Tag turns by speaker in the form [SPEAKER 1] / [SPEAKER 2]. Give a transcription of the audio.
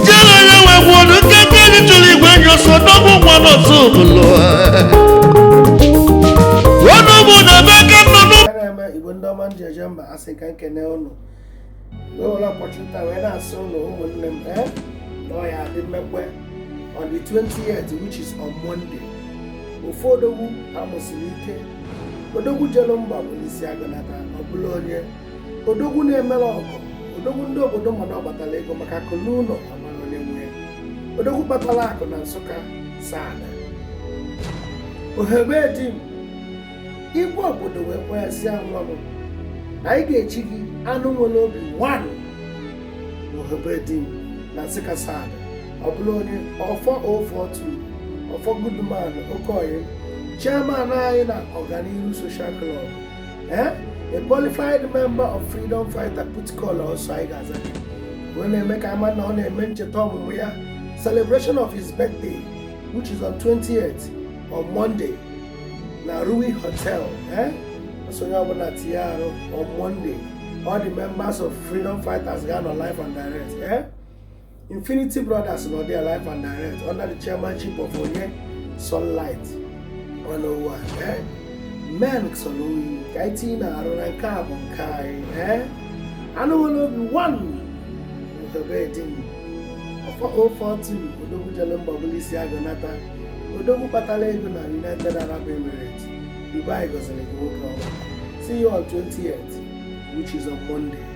[SPEAKER 1] jere onye nwe gwuo na nke nke anyị chụrụ igwe enyi ọsọ n'ọbụ nwa n'ọsọ obodo ọnụ bụ na ebe aka nọ n'ụmụ Ekene eme igbo ndị ọma m ji eje
[SPEAKER 2] mba asị m ka m kene ụnụ wee were opportunity a wee na-asị ụnụ ụmụnne m ee na ọ ya adị mmekwe on the 28th which is on Monday ofu odogwu amụsiri ike odogwu jelu mba bulu isi agụ nata ọ bụlụ onye odogwu na-emere ọgọ odogwu ndị obodo mmadụ ọkpatara ego maka akụ luo ụnọ amara onye nwe odogwu kpatara akụ na Nsụka Asadu Ohebe Dim igwe obodo wee kweghasịa nwa m na anyị ga-echi gị anụ nwere obi one Ohebe Dim na Nsụka Asadu ọ bụrụ onye Ọfọ 042 Ọfọ Goodman Okoye chairman anyị na ọganihu social club eh? a qualified member of freedom fighter put call ọsọ anyị ga-aza wee na-eme ka a ma na ọ na-eme ncheta ọmụmụ ya celebration of his birthday which is on 28th on Monday na Rui Hotel eh? so onye ọbụla tinye arụ on Monday all the members of freedom fighters ga-anọ live and direct eh? Infinity Brothers nọ there live and direct under the chairmanship of Onye Sunlight 101 eh? men sọrọ oyi ka anyị tinyenụ arụ na nke a bụ nke anyị eh? anụ nwere obi one n'Ohebe Dim Ọfọ 042 odogwu jelu mba bulu isi agụ nata odogwu kpatara ego na United Arab Emirates Dubai gọziri gị nwoke ọma see you on 28th which is on Monday